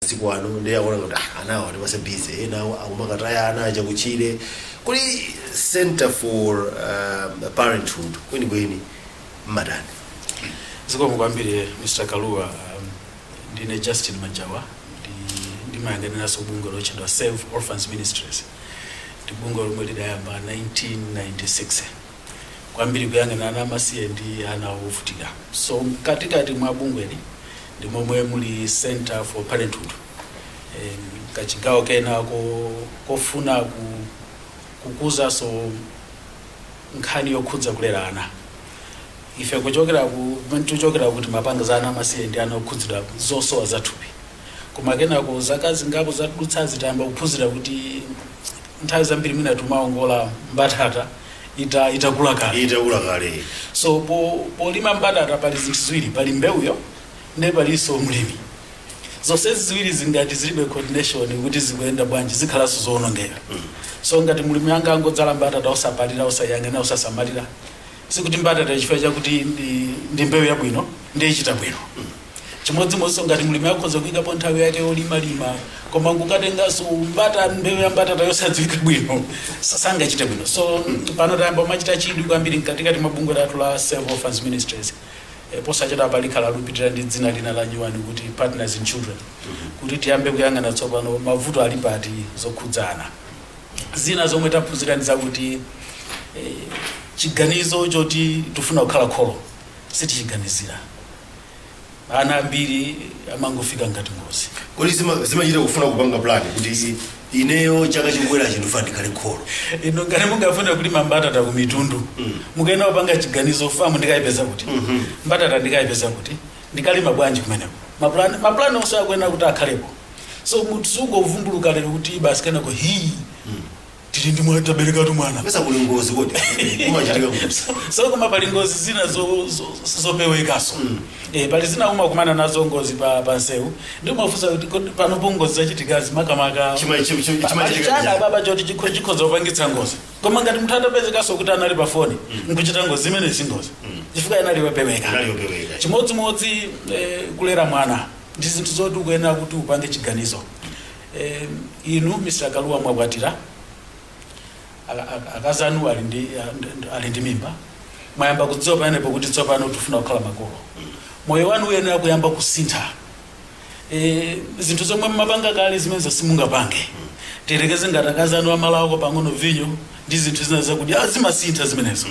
masiku ano ndi akuona kuti ah, ana awa atipatsa busy ena awo akumakataya ana aja kuchire kodi center for um, parenthood kwenikweni mmatani zikomo kwambiri mr kaluwa um, ndine justin majawa ndi- ndimayang'aniranso bungwe lotchedwa save orphans ministries ndi bungwe lomwe lidayamba 1996 kwambiri kuyang'ana ana amasiye ndi ana ovutika so mkatikati mwa bungweli ndi momwe muli center for parenthood Eh, kachigawo kena ko, kofuna ku, kukuzanso nkhani yokhudza kulera ana ife kuchokera ku kumene tichokera kuti timapanga za ana amasiye ndi ana okhudzidwa zosowa zathupi koma kenako zaka zingapo zadutsa tayamba kuphunzira kuti nthawi zambiri mwina timaongola mbatata ita itakula kale itakula kale so po, polima mbatata pali zinthu ziwiri pali mbewuyo ndi palinso mlimi zonse ziwirizi ngati zilibe coordination kuti zikuyenda bwanji zikhalanso zoonongeka so ngati mlimi anga- angodzala mbatata osapalira osayang'ana osasamalira sikuti mbatata chifukwa chakuti ndi, ndi mbewu yabwino ndiye ichita bwino chimodzimodzinso ngati mlimi akhoza kuyikapo nthawi yake yolimalima koma nkukatenganso mbata mbewu ya mbatata yosadziwika bwino sa- sangachite bwino so pano tayamba kumachita chidwi kwambiri mkatikati mwa bungwe lathu la Save Orphans Ministries Eh, posachedwa apa likhala likupitilira ndi dzina lina la nyuwani kuti partners in children kuti tiyambe kuyang'ana tsopano mavuto ali pati zokhudzana Zina zomwe taphunzira ndi zakuti chiganizo choti tifuna kukhala kholo sitichiganizira. Ana ambiri amangofika ngati ngozi. Kodi zimachita kufuna kupanga plan kuti ineyo chaka chikubwerachi ndifuna ndikhale kholo? Inu ngati mungafune kulima mbatata ku Mitundu, mukuyenera kupanga chiganizo, Farm ndikayipeza kuti? Mbatata ndikayipeza kuti? Ndikalima bwanji kumeneko? Ma plan onse akuyenera kuti akhalepo. So munthu sungovumbuluka lero kuti basi kenako hii tili ndi mwana taberekatu mwana pezeka kuli ngozi kodi umachitika kuti So- so koma pali ngozi zina zo- zo- sizopewekanso Eh, pali zina umakumana nazo ngozi pa pa nsewu ndi umafunsa kuti kodi panopo ngozi zachitikazi makamaka Chima- chim- chim- chimachitika pali chi- ndi chiyani? baba choti chikho- chikhoza kupangitsa ngozi koma ngati munthu atapezekanso kuti anali pa foni nkuchita ngozi imeneyo si ngozi chifukwa anali wapeweka Anali wopeweka. chimodzimodzi eh, kulera mwana Ndi zinthu zoti ukuyenera kuti upange chiganizo. Eh, inu Mr. Kalua mwakwatira, a- a- akazi anu ali ndi, a- ndi- ali ndi mimba, mwayamba kudziwa pamenepo kuti tsopano tifuna kukhala makolo. Moyo wanu uyenera kuyamba kusintha. Eh, zinthu zomwe mmapanga kale zimenezo simungapange. Tiyerekeze ngati akazi anu amalawako pang'ono vinyo ndi zinthu zina zakudya, ah, zimasintha zimenezo.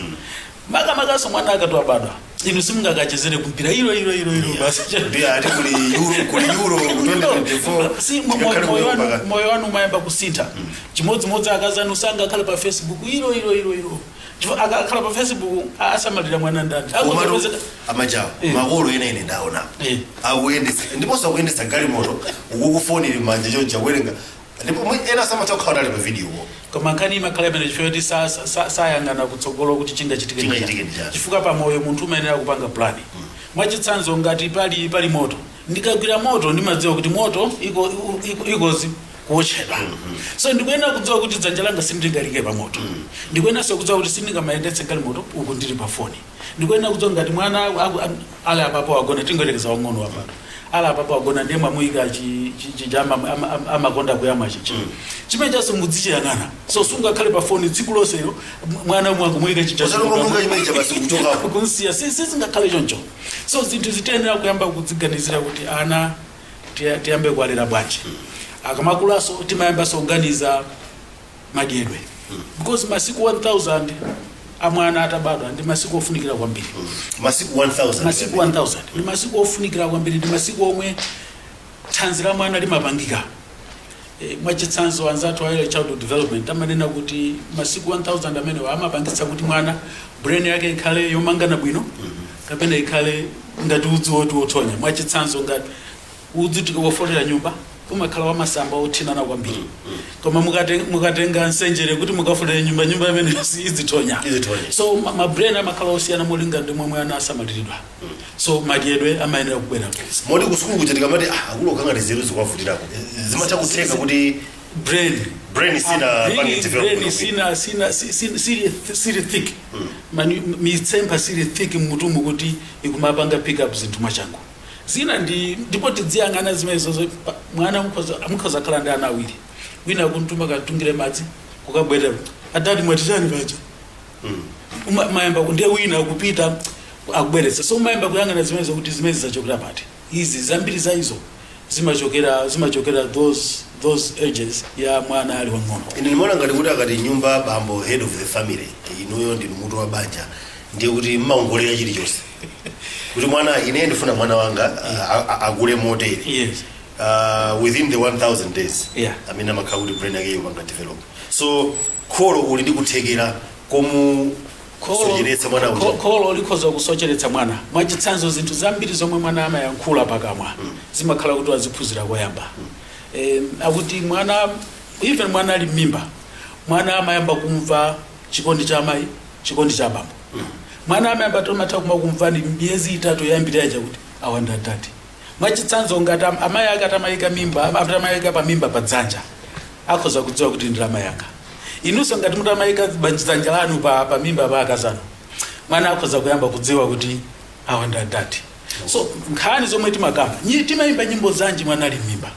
makamakanso mwana akati wabadwa inu simungakachezere kumpira ilo ilo ilo ilo basi ndiye ati kuli euro kuli euro 2024 Si, mo- mo- ngakhale moyo kuyomba wanu- ka- moyo wanu umayamba kusintha chimodzimodzi akazi anu sangakhale pa facebook ilo ilo ilo ilo Chifukwa akakhala pa facebook asamalira mwana ndani komano Akuchepezeka- amajawa Eh. makolo ena ine ndaonapo Eh. akuyendesa ndiponso akuyendesa galimoto uku kufoni manja chonchi akuwerenga Ndipo mwe ena samatha kukhala nali pa video wo. Koma nkhani imakhala imene chifukwa choti sa- sa- sa- sayang'ana kutsogolo kuti chingachitike ndi Chingachitike ndi chani. chani. chifukwa pa moyo munthu umayenera kupanga plan mwachitsanzo ngati pali pali moto ndikagwira moto ndimadziwa kuti moto iko- u- iko- ikozi kuotchedwa so ndikuyenera kudziwa kuti dzanja langa sindingaliike pa moto ndikuyeneranso kudziwa kuti sindingamayendetse galimoto uku ndili pa foni ndikuyenera kudziwa ngati mwana aku- am- ali apapo wagona tingoyerekeza wang'ono apa ali apapo wagona ndiye mwamuyika chi- chi- chija ama- ama- ama- amakonda kuyamwa chichi chimene chijaso mudzichiyang'ana so sungakhale pa foni tsiku lonselo m- mwana umo akumuyika chija Osati chikukapo. ungomuika chimene chija basi kuchokapo. kunsiya si- sizingakhale choncho so zinthu zi tiyenera kuyamba kudziganizira kuti ana tiya- tiyambe kuwalera bwanji akamakulaso timayambaso kuganiza madyedwe because masiku 1000 amwana atabadwa ndi masiku ofunikira kwambiri masiku 1000 masiku 1000 ndi masiku ofunikira kwambiri ndi masiku omwe thanzi la mwana limapangika e, mwachitsanzo anzathu a early childhood development amanena kuti masiku 1000 amenewa amapangitsa kuti mwana brain yake ikhale yomangana bwino kapena ikhale ngati udzu woti wothonya mwachitsanzo ngati udzu tikaufolera nyumba umakhala wamasamba othinana kwambiri koma mukate- mukatenga nsenjere kuti mukafolere nyumba nyumba imeneyo idzithonya Idzithonya. so ma- ma brain amakhala osiyana molinga ndi momwe ana asamaliridwa so madyedwe amayenera kubwera mwezi moti kusukulu kuja tikamati ah, akulu okhala ngati nzeru zikuwavutirako zimatha kutheka kuti brain brain sina Brain- pange develop brain bwino. sina sina si- si- sili sili thick mani mitsempha siili thick mmutumu kuti ikumapanga pick up zinthu mwachangu zina ndi ndipo tidziyang'ana zimenezo zo- pa- mwana mukhoza mukhoza khala ndi ana awiri wina kuntuma katungire madzi kukabwerera adadi mwati chani paja Uma- mayamba ku- ndiye wina kupita akubweretsa so umayamba kuyang'ana zimenezo kuti zimezi zachokera pati izi zambiri za izo zimachokera zimachokera those those ages ya mwana ali wang'ono ine ndimaona ngati kuti akati nyumba bambo head of the family inuyo ndinu mutu wa banja ndiye kuti mumaongolera chilichonse kuti mwana ine ndifuna mwana wanga uh, a- a- akule motere Yes. uh, within the 1000 days Yeah. amene amakhala kuti brain yake yopanga develop so kholo uli ndi kuthekera komusocheretsa mwana uja. kholo likhoza kusocheretsa mwana mwachitsanzo zinthu zambiri zomwe mwana amayankhula pakamwa zimakhala kuti waziphunzira koyamba Eh, akuti mwana even mwana ali m'mimba mwana amayamba kumva chikondi cha amayi chikondi cha bambo Mwana amayamba tomatha kuma kumva ndi miyezi itatu yoyambirira ija kuti awa ndi adadi. Mwachitsanzo ngati am- amayi ake atamayika mimba atamayika pa mimba pa dzanja akhoza kudziwa kuti ndi amayi anga. Inunso ngati mutamayika banj- dzanja lanu pa, pa mimba pa akazanu mwana akhoza kuyamba kudziwa kuti awa ndi adadi. So nkhani zomwe timakamba nyi- timayimba nyimbo zanji mwana ali m'mimba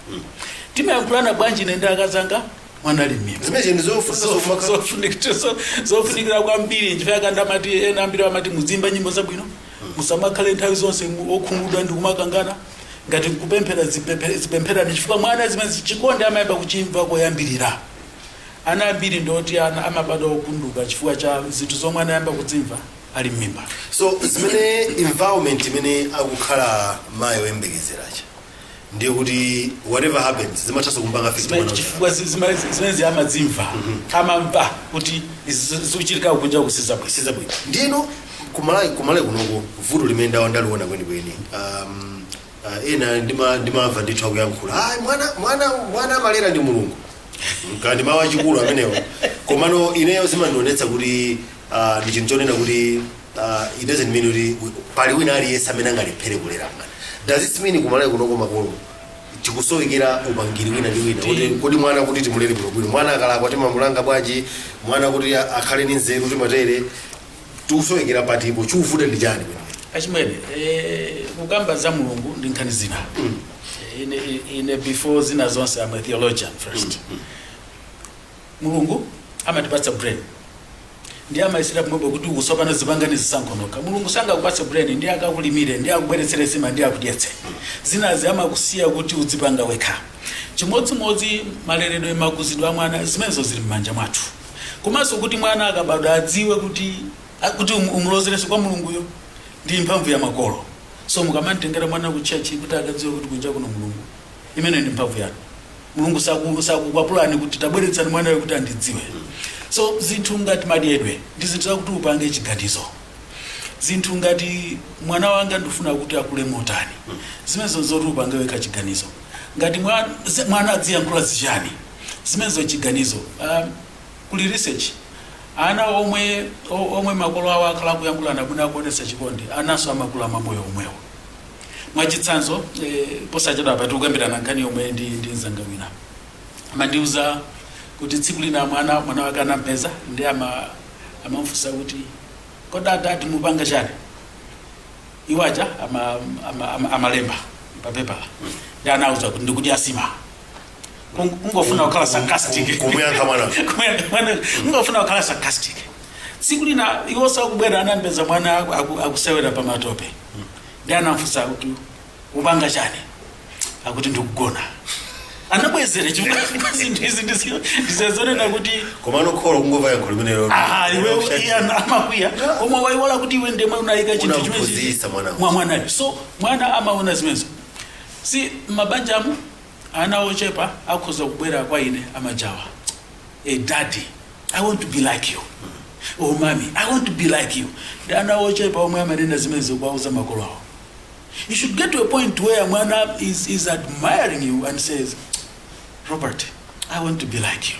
timayankhulana bwanji ine ndi akazanga mwana ali m'mimba zimenezo ndi zofunika zofunika- zofunika zo- zofunikira kwambiri nchifukwa ndimati ena ambiri amati muziimba nyimbo zabwino musamakhale nthawi zonse mu- okhumudwa ndi kumakangana ngati kupemphera zipemphe- zipempherani chifukwa mwana zimene chikondi amayamba kuchimva koyambirira ana ambiri ndoti ana amabadwa opunduka chifukwa cha zinthu zomwe anayamba kudzimva ali m'mimba so zimene environment imene akukhala mayi oyembekezera uja ndiye kuti whatever happens zimathanso kumpanga affect mwana uja. chifukwa zi- zima- zimenezi amazimva amamva kuti izi zikuchitika kunja kusali bwino sizili bwino ndiye kuMalawi kuMalawi kunoko vuto limene ndawa ndaliona kwenikweni um, uh, ena ndima- ndimamva ndithu akuyankhula ayi mwana mwana mwana amalera ndi mulungu kaya ndi mawu achikulu amenewo komano ineyo zimandionetsa kuti Ah, ndi chinthu chonena kuti ah, it doesn't mean kuti we- pali wina aliyense amene angalephere kulera mwana doesn't mean kuMalawi kunoko makolo tikusowekera upangiri wina ndi wina kuti kodi mwana kuti timulere bwinobwino mwana akalakwa timamulanga bwanji mwana kuti a- akhale ndi nzeru timatani tikusowekera patipo chikuvuta ndi chani achimwene eh, kukamba za mulungu ndi nkhani zina Eh, ine, ine before zina zonse I'm a theologian first Mulungu amatipatsa brain ndiye amasiyira pomwepo kuti uku tsopano zipangani zisankho nokha mulungu sangakupatse brain ndiye akakulimire ndiye akubweretsere nsima ndiye akudyetse zinazo amakusiya kuti udzipanga wekha chimodzimodzi maleredwe makuzidwe a mwana zimenezo zili m'manja mwathu komanso kuti mwana akabadwa adziwe kuti a- kuti um- umulozerenso kwa mulunguyo ndi mphamvu ya makolo so mukamamtengera mwana ku church kuti akadziwe kuti kunja kuno mulungu imeneyo ndi mphamvu yanu mulungu saku- sakukwapulani kuti tabweretsani mwanayo kuti andidziwe so zinthu ngati madyedwe ndi zinthu zakuti upange chiganizo zinthu ngati mwana wanga ndifuna kuti akule motani zimenezo zoti upange wekha chiganizo ngati mwa- zi- mwana adziyankhula zichani zimenezo chiganizo um, kuli research ana omwe o- omwe makolo awo akhala akuyankhulana bwino akuonesa chikondi ananso amakula mamoyo omwewo Mwachitsanzo, posachedwapa timakambirana nkhani yomwe ndi mzanga wina. Amandiuza kuti tsiku lina mwana wake anamupeza ndiye amamufunsa kuti, Kodi adadi mukupanga chani? Iwo aja amalemba papepala ndiye anawauza kuti, Ndikudya nsima. Kung- kungofuna kukhala sarcastic kumuyankha mwana kungofuna kukhala sarcastic tsiku lina iwo pobwera anampeza mwana aku- aku- akusewera pa matope ndi anamfunsa kuti upanga chani akuti ndikugona anabwezera chifukwa zinthu izi ndizi- ndizazonena kuti komano kholo kungomva yankho limenelo aha iwe iye ana- amakwiya koma waiwala kuti iwe ndemwe unayika chinthu chimene Unamphunzitsa mwana. mwa mwanayo so mwana amaona zimenezo si mabanja amu Ana ochepa akhoza kubwera kwa ine amajawa Eh daddy I want to be like you or mommy I want to be like you ndi ana ochepa omwe amanena zimenezo kuwauza makolo awo. You should get to a point where mwana is, is admiring you and says Robert I want to be like you.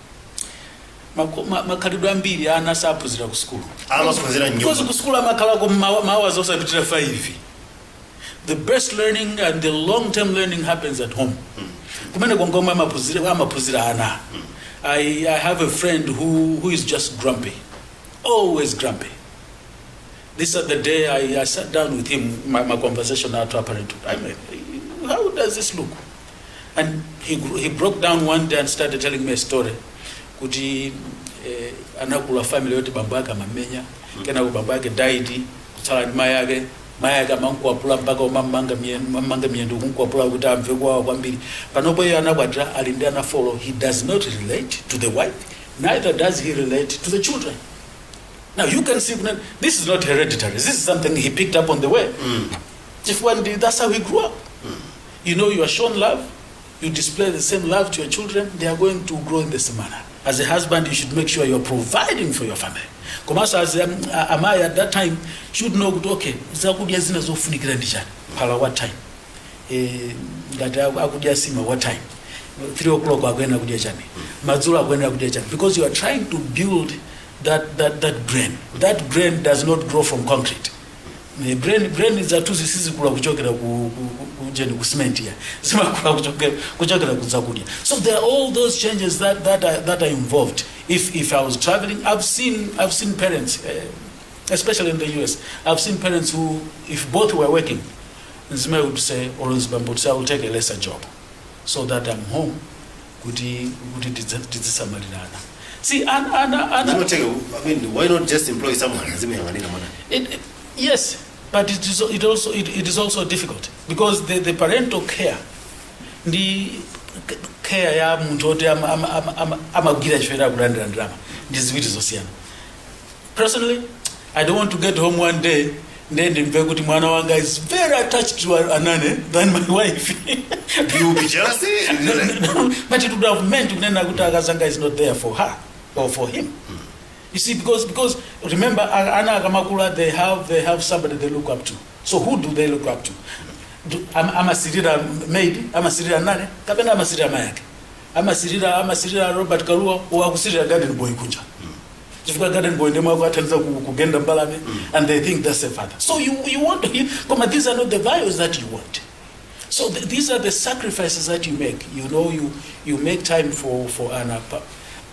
Mako- ma- makhalidwe ambiri ana saphunzira ku sukulu Amaphunzira m'nyumba. Because ku sukulu amakhalako mma- mahours osapitira 5 the best learning and the long term learning happens at home kumene kongomwe amaphunzira amaphunzira ana I, i have a friend who, who is just grumpy always grumpy this other day i, I sat down with him my, my conversation about parenthood I mean, how does this look and he, gr- he broke down one day and started telling me a story kuti eh, anakula family yoti bambo ake amamenya kenako bambo ake died kutsala ndi mai ake mai ake amankwapula mpaka kumamanga mamanga miyendo kunkwapula kuti amve kuwawa kwambiri panopo iye anakwatira ali ndi ana four he does not relate to the wife neither does he relate to the children now you can see that this is not hereditary this is something he picked up on the way chifukwa ndi that's how he grew up You know you are shown love, you display the same love to your children, they are going to grow in the same manner. As a husband, you should make sure you are providing for your family. Komanso as um, a- amai at that time should know kuti okay, zakudya zina zofunikira ndi chani, phala what time, eh, ngati aku- akudya sima what time, 3 o'clock akuyenera kudya chani, madzulo akuyenera kudya chani, because you are trying to build that, that, that brain. That brain does not grow from concrete. Eh, brain brain zathuzi sizikula kuchokera ku ku- ku- kujeni ku cement ya zimakula kuchokera kuchokera ku zakudya so there are all those changes that that are, that are involved if if i was traveling i've seen i've seen parents eh, especially in the us i've seen parents who if both were working nzimai would say or nzibambo would say i will take a lesser job so that i'm home kuti kuti tidza- tidzisamalirana si ana ana ana Zimatheka, I mean, why not just employ someone azimuyang'anira mwana? It, it- yes, but it is, it also, it, it is also difficult because the, the parental care, ndi k- care ya munthu oti ama- ama- ama- ama- amagwira ntchito yakulandira ndalama ndi ziwiri zosiyana Personally, I don't want to get home one day ndiye ndimve kuti mwana wanga is very attached to a- anane than my wife You be jealous? but it would have meant kunena kuti akazanga is not there for her or for him you see because because remember a- ana akamakula they have they have somebody they look up to so who do they look up to Do- am- amasirira maid amasirira nane kapena amasirira mayake Amasirira amasirira Robert Kalua or akusirira garden boy kunja chifukwa garden boy ndemwe akuathandiza ku- kugenda mbalame and they think that's a father so you, you want to, koma these are not the values that you want so th these are the sacrifices that you make you know you, you make time for, for ana pa-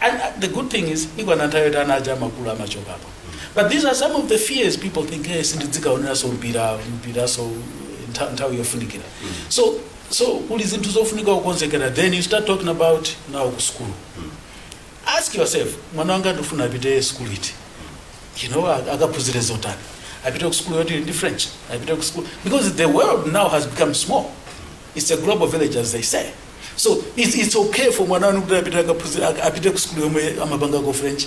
and uh, the good thing is ikwana nthawi yoti ana aja amakula amachokapo but these are some of the fears people think hey sindidzikaoneranso mpira mpiraso ntha- nthawi yofunikira so So kuli zinthu zofunika kukonzekera then you start talking about nawo ku school. Ask yourself, mwana wanga ndikufuna apite school iti? You know, ak- akaphunzire zotani? Apite ku school yoti ili ndi French, apite ku school because the world now has become small. It's a global village as they say. So it's, it's okay for mwana wanu kuti apite akaphunzire ak- apite ku school yomwe amapangako French,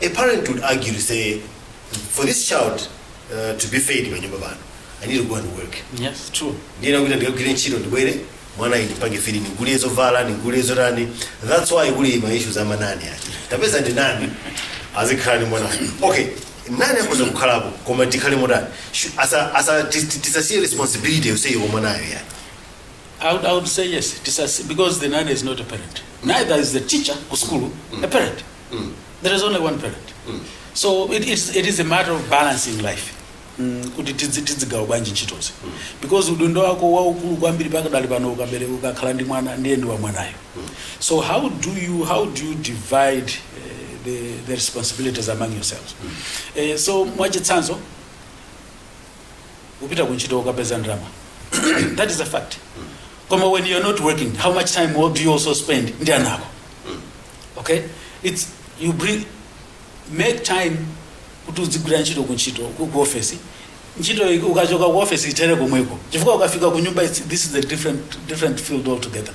a parent would argue to say for this child uh, to be fed panyumba pano i need to go and work Yes, true. ndiyena kuti ndikagwire ntchito ndibwere mwana uyu ndipange feed ndigule zovala ndigule zotani that's why kuli ma issues a ma nanny oti tapeza nanny azikhala ndi mwana okay nanny akhoza kukhalapo koma tikhale motani Shu- asa- asa- tis- tis- tisasiye responsibility yonseyi ya mwanayo kwa nanny I would, I would say yes, it is as, because the nanny is not a parent. Neither is the teacher ku school a parent. There is only one parent. So it is, it is a matter of balancing life. Mm, kuti tidzi- tidzigawa bwanji ntchitozi because udindo wako waukulu kwambiri pakadali pano ukabereka ukakhala ndi mwana ndiye ndi wa mwanayo so how do you how do you divide uh, the, the responsibilities among yourselves uh, so mwachitsanzo upita kuntchito ukapeza ndalama that is a fact koma when you're not working how much time do you also spend ndi ana ako okay it's you make time kuti udzigwira ntchito ku ntchito ku ku office ntchito iyi ukachoka ku office ithere komweko chifukwa ukafika ku nyumba it's- this is a different different field altogether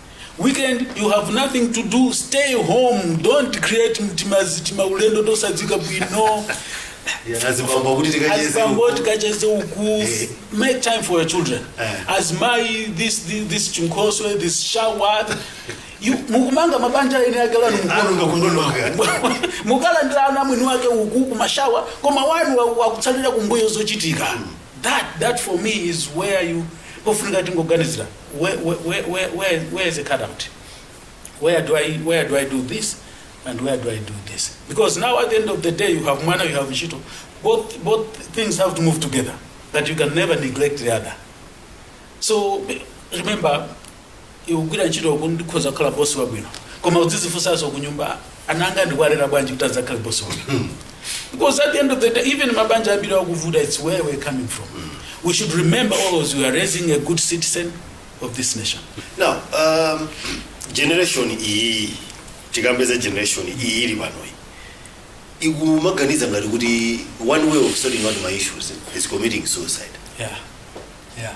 weekend you have nothing to do stay home don't create timati timaulendo tosadziwika bwino Yeah, azibambo kuti tikacheze azibambo uku. tikacheze uku Eh. make time for your children Eh. as my this this, this chinkhoswe this shower iwe mukumanga mabanja a eni ake lanu likuwonongeka. mukulangiza ana a mwini wake uku kumashawa koma wanu wa- akutsalira kumbuyo zochitika that that for me is where you pofunika tingoganizira where, where, where, where, where, where is the cutout? Where do I where do I do this? And where do I do this? Because now at the end of the day you have mwana, you have ntchito. Both both things have to move together. but you can never neglect the other. So remember iwe ukugwira ntchito kuti ukhoza kukhala bosi wabwino koma udzizifunsanso kunyumba ana anga ndikwalera bwanji kuti adzakhale boss wanga because at the end of the day even mabanja ambiri akuvuta it's where we're coming from we should remember always we are raising a good citizen of this nation now um, generation iyi tikambeza generation iyi ili panoyi ikumaganiza ngati kuti one way of sorting out my issues is committing suicide yeah yeah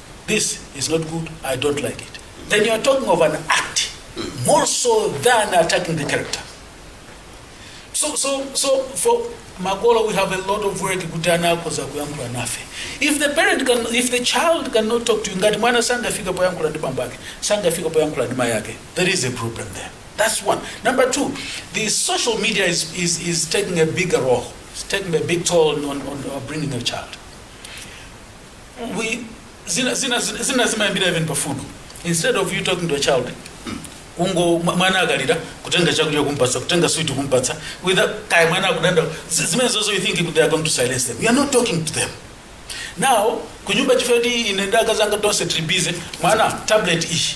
this is not good i don't like it then you are talking of an act more so than attacking the character so so so for makolo we have a lot of work kuti ana akhoza kuyankhula nafe if the parent can if the child cannot talk to you ngati mwana sangafika poyankhula ndi bambo ake sangafika poyankhula ndi mayi ake there is a problem there that's one number two the social media is, is, is taking a bigger role it's taking a big toll on, on, on bringing a child we zina zina zina zimayambira even pa food instead of you talking to a child kungo mwa- mwana akalira kutenga chakudya kumpatsa kutenga sweet kumpatsa without kaya mwana akudandaula zi- zimene zizo you think they are going to silence them you are not talking to them now kunyumba chifukwa choti ine ndi akazanga tonse tili busy mwana tablet ishi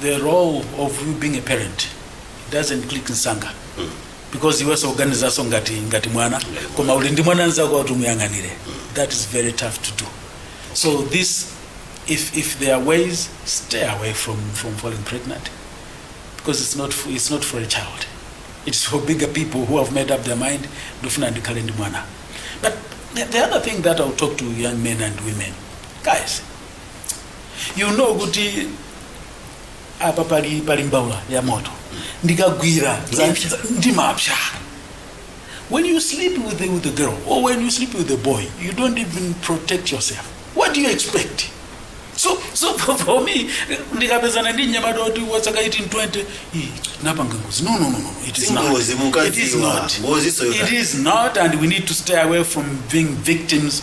the role of you being a parent doesn't click nsanga because iwenso ukuganizanso ngati ngati mwana koma uli ndi mwana nzako kuti umuyang'anire that is very tough to do so this if, if there are ways stay away from, from falling pregnant because it's not, f- it's not for a child it's for bigger people who have made up their mind ndofuna ndikhale ndi mwana but the, the other thing that i'll talk to young men and women guys you know kuti apa pali pali mbaula ya moto ndikagwira za- ndimapsa when you sleep with the, with the girl or when you sleep with the boy you don't even protect yourself what do you expect so so for, for me ndikapezana ndi mnyamata woti wa zaka 1820 "Ih, napanga ngozi no no no no it is not Si ngozi, mumadziwa. it is not Ngozi soyota. it is not and we need to stay away from being victims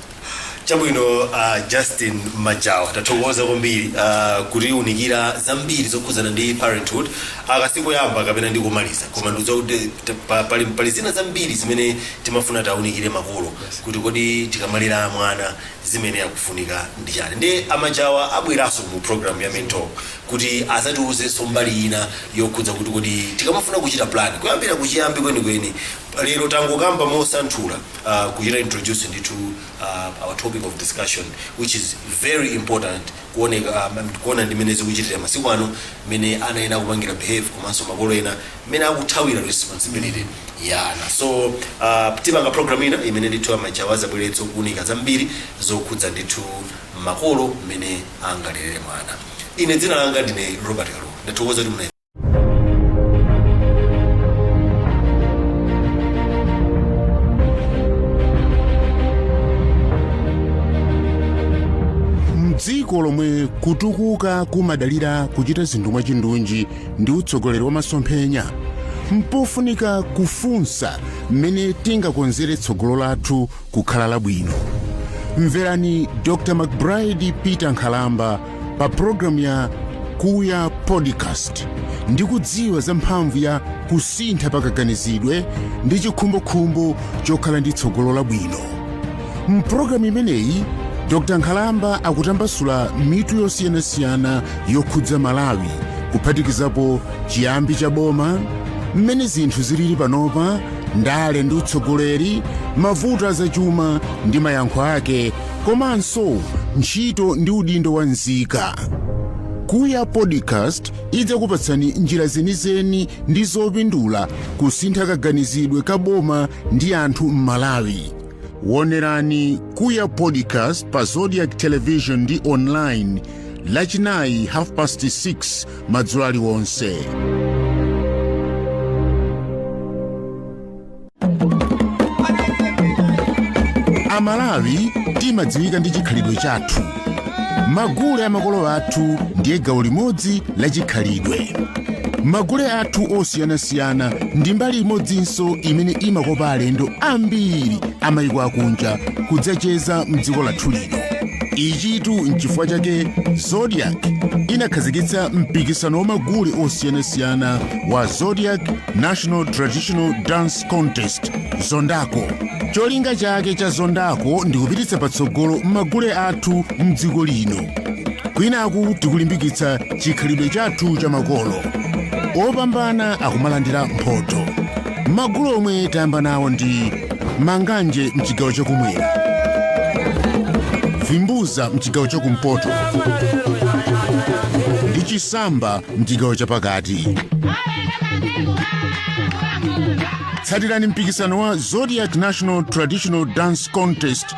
Chabwino a Justin Majawa tathokoza kwambiri uh, kutiunikira zambiri zokhudzana ndi parenthood aka sikoyamba kapena nkomaliza koma ndikudziwa kuti t- pa- pali, pali zina zambiri zimene timafuna taunikire makolo kuti kodi tikamalera mwana zimene akufunika ndi chani ndiye a Majawa abweranso mu program ya mentor kuti azatiuzenso mbali ina yokhudza kuti kodi tikamafuna kuchita plan kuyambira kuchiyambi kwenikweni lero tangokamba mosanthula uh, kuchita introduce ndithu uh, our topic of discussion which is very important kuoneka um, kuona ndi mmene zikuchitira masiku ano mmene ana ena akupangira behave komanso makolo ena mmene akuthawira responsibility ya ana so uh, tipanga program ina imene ndithu a Majawa azabweranso kuunika zambiri zokhudza ndithu makolo mmene angalere mwana ine dzina langa ndine robert kalu ndathokoza kuti muna m'dziko lomwe kutukuka kumadalira kuchita zinthu mwachindunji ndi utsogoleri wa masomphenya mpofunika kufunsa mmene tingakonzere tsogolo lathu kukhala labwino mverani dr mcbride peter nkhalamba pa programu ya kuya podcast ndi kudziwa za mphamvu ya kusintha pakaganizidwe ndi chikhumbokhumbo chokhala ndi tsogolo labwino m'pulogalamu imeneyi dr nkhalamba akutambasula mitu yosiyanasiyana yokhudza malawi kuphatikizapo chiyambi cha boma mmene zinthu zilili panopa ndale ndi utsogoleri mavuto azachuma ndi mayankho ake komanso ntchito ndi udindo wa nzika kuya podcast idzakupatsani njira zenizeni ndi zopindula kusintha kaganizidwe ka boma ndi anthu m'malawi wonerani kuya podcast pa zodiak television ndi online lachinayi half past 6 madzulo aliwonse amalawi timadziwika ndi chikhalidwe chathu magule amakolo athu ndiye gawo limodzi la chikhalidwe magule athu osiyanasiyana ndi mbali imodzinso imene imakopa alendo ambiri amayiko akunja kudzacheza mdziko lathu lino ichitu nchifukwa chake zodiak inakhazikitsa mpikisano wa magule osiyanasiyana wa zodiak national traditional dance contest zondako cholinga chake cha zondako ndi kupititsa patsogolo magule athu mdziko lino kwinaku tikulimbikitsa chikhalidwe chathu cha makolo opambana akumalandira mphoto Magule omwe tayamba nawo ndi Manganje mchigawo chakumwera, Vimbuza mchigawo chakumpoto ndi Chisamba mchigawo chapakati. Tsatirani mpikisano wa Zodiak National Traditional Dance Contest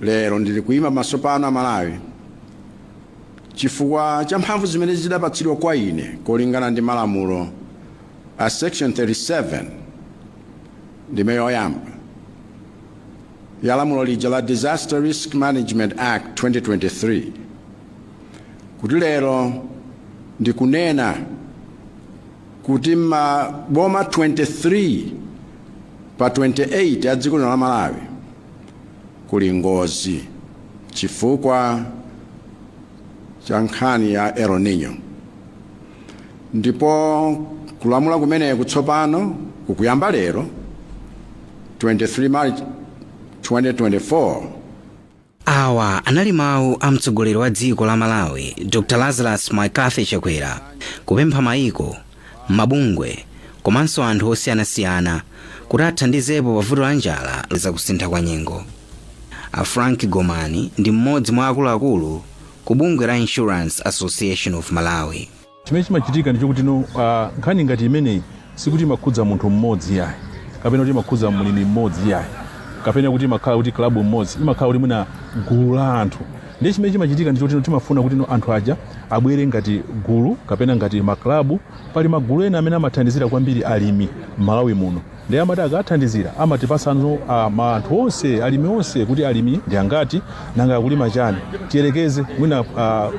lero ndili kuyima pamaso pano amalawi chifukwa cha mphamvu zimene zidapatsidwa kwa ine kolingana ndi malamulo a section 37 Ndime yoyamba ya lamulo lija la Disaster Risk Management Act 2023 kuti lero ndikunena kuti maboma 23 pa 28 a dziko lino la Malawi kuli ngozi chifukwa cha nkhani ya El Nino ndipo kulamula kumeneku tsopano kukuyamba lero 23 March 2024 awa anali mawu a mtsogoleri wa dziko la malawi dr lazarus mccarthy chakwera kupempha maiko mabungwe komanso anthu osiyanasiyana kuti athandizepo pa vuto la njala ndi za kusintha kwa nyengo a frank gomani ndi mmodzi mwa akuluakulu ku bungwe la insurance association of malawi chimene chimachitika ndi chokuti no ah, nkhani ngati imeneyi sikuti imakhudza munthu mmodzi yayi kapena kuti imakhudza mlimi mmodzi yayi kapena kuti imakhala kuti klabu mmodzi imakhala kuti mwina gulu la anthu Ndiye chimene chimachitika ndi choti timafuna kuti anthu aja abwere ngati gulu kapena ngati maklabu. Pali magulu ena amene amathandizira kwambiri alimi m'Malawi muno ndiye amati akathandizira amatipatsano ma anthu onse alimi onse kuti alimi ndi angati nanga akulima chani tiyerekeze mwina uh,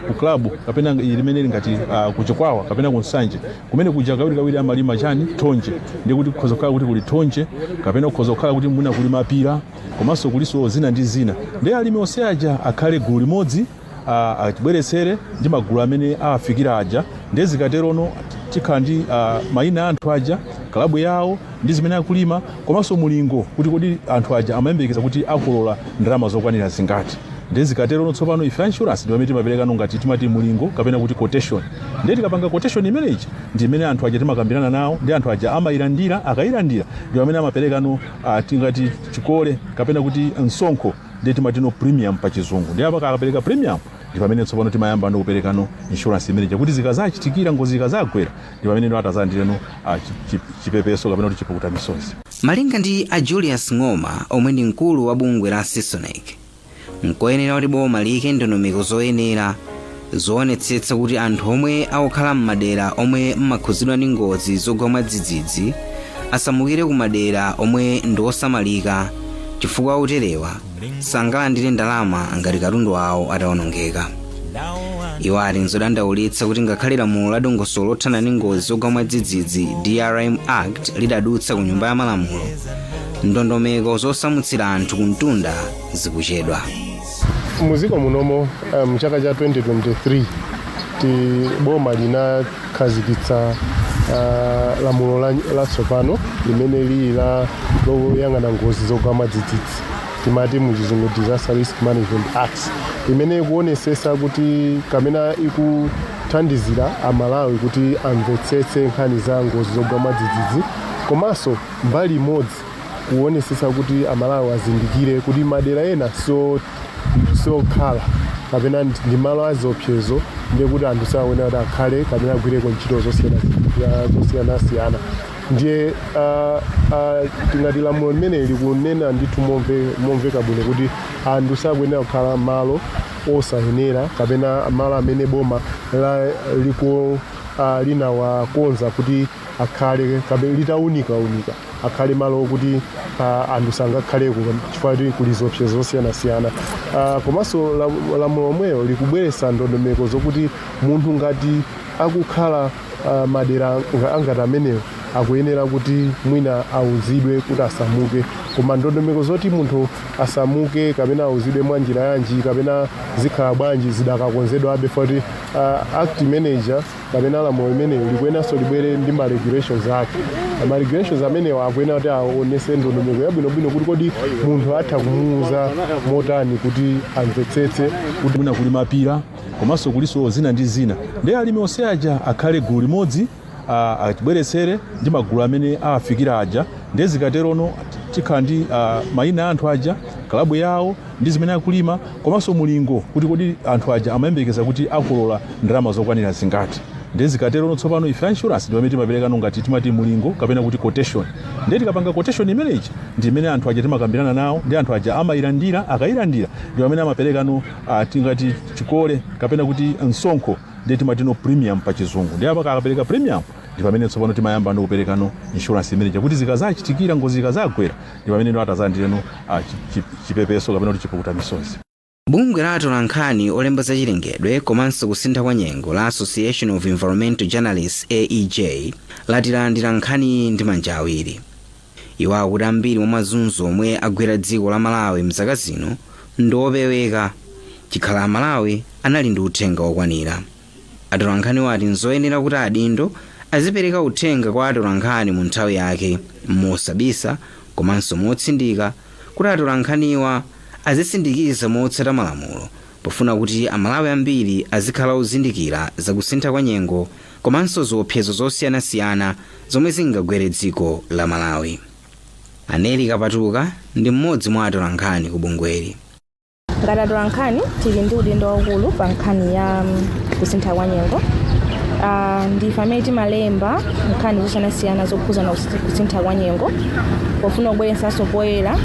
ku klabu kapena mmene zilili ngati uh, ku chikwawa kapena ku nsanje kumene kuja kawirikawiri amalima chani thonje ndiye kuti kukhoza kukhala kuti kuli thonje kapena kukhoza kukhala kuti mwina kuli mapira komanso kuliso zina ndi zina ndi alimi onse aja akhale gulu limodzi a- atibweretsere ndi magulu amene awafikira aja ndiye zikaterono tikhala ndi a, mayina a anthu aja kalabu yawo ndi zimene akulima komanso mulingo kuti kodi anthu aja amayembekeza kuti akolola ndalama zokwanira zingati ndiye zikaterono tsopano ife insurance ndi pamene timaperekano ngati timati mulingo kapena kuti quotation ndiye tikapanga quotation imeneyi ndi imene anthu aja timakambirana nawo ndi anthu aja amayilandira akayilandira ndi pamene amaperekano uh, tingati chikole kapena kuti msonkho ndiye timatino premium pa chizungu ndiye apa akapereka premium ndi pamene tsopano timayambano kuperekano insurance imene ija kuti zikazachitikira ngozi zikazagwera ndi pamene ndi atazalandireno uh, chi- chi- chipepeso kapena kuti chipukuta misozi malinga ndi a julius ng'oma omwe ndi mkulu wa bungwe la cisonecc nkoyenera kuti boma liyike ndondomeko zoyenera zoonetsetsa kuti anthu omwe akukhala m'madera omwe amakhudzidwa ndi ngozi zogwa mwadzidzidzi asamukire ku madera omwe ndi osamalika chifukwa oterewa sangalandire ndalama ngati katundu wawo atawonongeka iwo ati nzodandaulitsa kuti ngakhale lamulo la dongosolo lothana ndi ngozi zogwa mwadzidzidzi drm act lidadutsa ku nyumba ya malamulo ndondomeko zosamutsira anthu kumtunda zikuchedwa muziko munomo mu chaka cha 2023 ti boma linakhazikitsa uh, lamulo la- latsopano limene lili la loyang'ana ngozi zogwa mwadzidzidzi timati muchizungu disaster risk management act imene ikuonesesa kuti kapena ikuthandizira amalawi kuti amvetsetse nkhani za ngozi zogwa mwadzidzidzi komanso mbali imodzi kuonesesa kuti amalawi azindikire kuti madera ena si okhala kapena ndi ndi malo aziopsezo ndiye kuti anthu sakuyenera kuti akhale kapena agwireko ntchito zosiyana- za- zosiyanasiyana ndiye ah, ah, tingati lamulo limeneli likunena ndithu momve- momveka bwino kuti anthu sakuyenera kukhala malo osayenera kapena malo amene boma la- liko ah, linawakonza kuti akhale kapena litaunikaunika akhale malo okuti uh, anthu sangakhaleko chifukwa kuti kuli ziopsezo zosiyanasiyana uh, komanso lam- lamulo lomwelo likubweretsa ndondomeko zokuti munthu ngati akukhala uh, madera nga- angati amenewo akuyenera kuti mwina auzidwe kuti asamuke koma ndondomeko zoti munthu asamuke kapena auzidwe mwa njira yanji kapena zikhala bwanji zidakakonzedwabe fukwa uh, act imeneyo kapena lamulo limenelo likuyeneranso libwere ndi ma regulations ake ma regulations amenewa akuyenera kuti aonetse ndondomeko yabwinobwino kuti kodi munthu atha kumuuza motani kuti amvetsetse kuti mwina kuli mapira komanso kulinso zina ndi zina ndiye alimi onse aja akhale gulu limodzi ah, atibweretsere ndi magulu amene awafikira aja ndiye zikaterono tikhala ndi ah, mayina a anthu aja kalabu yawo ndi zimene akulima komanso mulingo kuti kodi anthu aja amayembekeza kuti akolola ndalama zokwanira zingati ndiye zikaterono tsopano ife insurance ndi pamene timaperekano ngati timati mulingo kapena kuti quotation ndiye tikapanga quotation imene ija ndi imene anthu aja timakambirana nawo ndi anthu aja amayilandira akayilandira ndi pamene amaperekano uh, tingati chikole kapena kuti msonkho ndiye timati no premium pa chizungu ndiye apaka akapereka premium ndi pamene tsopano timayamba ndi kuperekano insurance imene ija kuti zikazachitikira ngozi zikazagwera ndi pamene inu atazalandireno ah, chi- chi- chipepeso kapena kuti chipukuta misozi bungwe la atolankhani olemba za chilengedwe komanso kusintha kwa nyengo la association of environmental journalists aej lati lalandira nkhaniyi ndi manja awiri iwo akuti ambiri mwa mazunzo omwe agwera dziko la malawi mzaka zino ndi opeweka chikhala amalawi anali ndi uthenga wokwanira Atolankhaniwa ati n'zoyenera kuti adindo azipereka uthenga kwa atolankhani mu nthawi yake, mosabisa komanso motsindika kuti atolankhaniwa azisindikiza motsata malamulo pofuna kuti Amalawi ambiri azikhala ozindikira za kusintha kwa nyengo komanso ziopsezo zosiyanasiyana zomwe zingagwere dziko la Malawi. A Nellie Kapatuka ndi mmodzi mwa atolankhani ku bungweli. ngati atolankhani tili ndi udindo waukulu pa nkhani ya mm, kusintha kwa nyengo Ah, ndife amene timalemba nkhani zosiyanasiyana zokhuzana kusi- kusintha kwa nyengo pofuna kubweretsanso poyera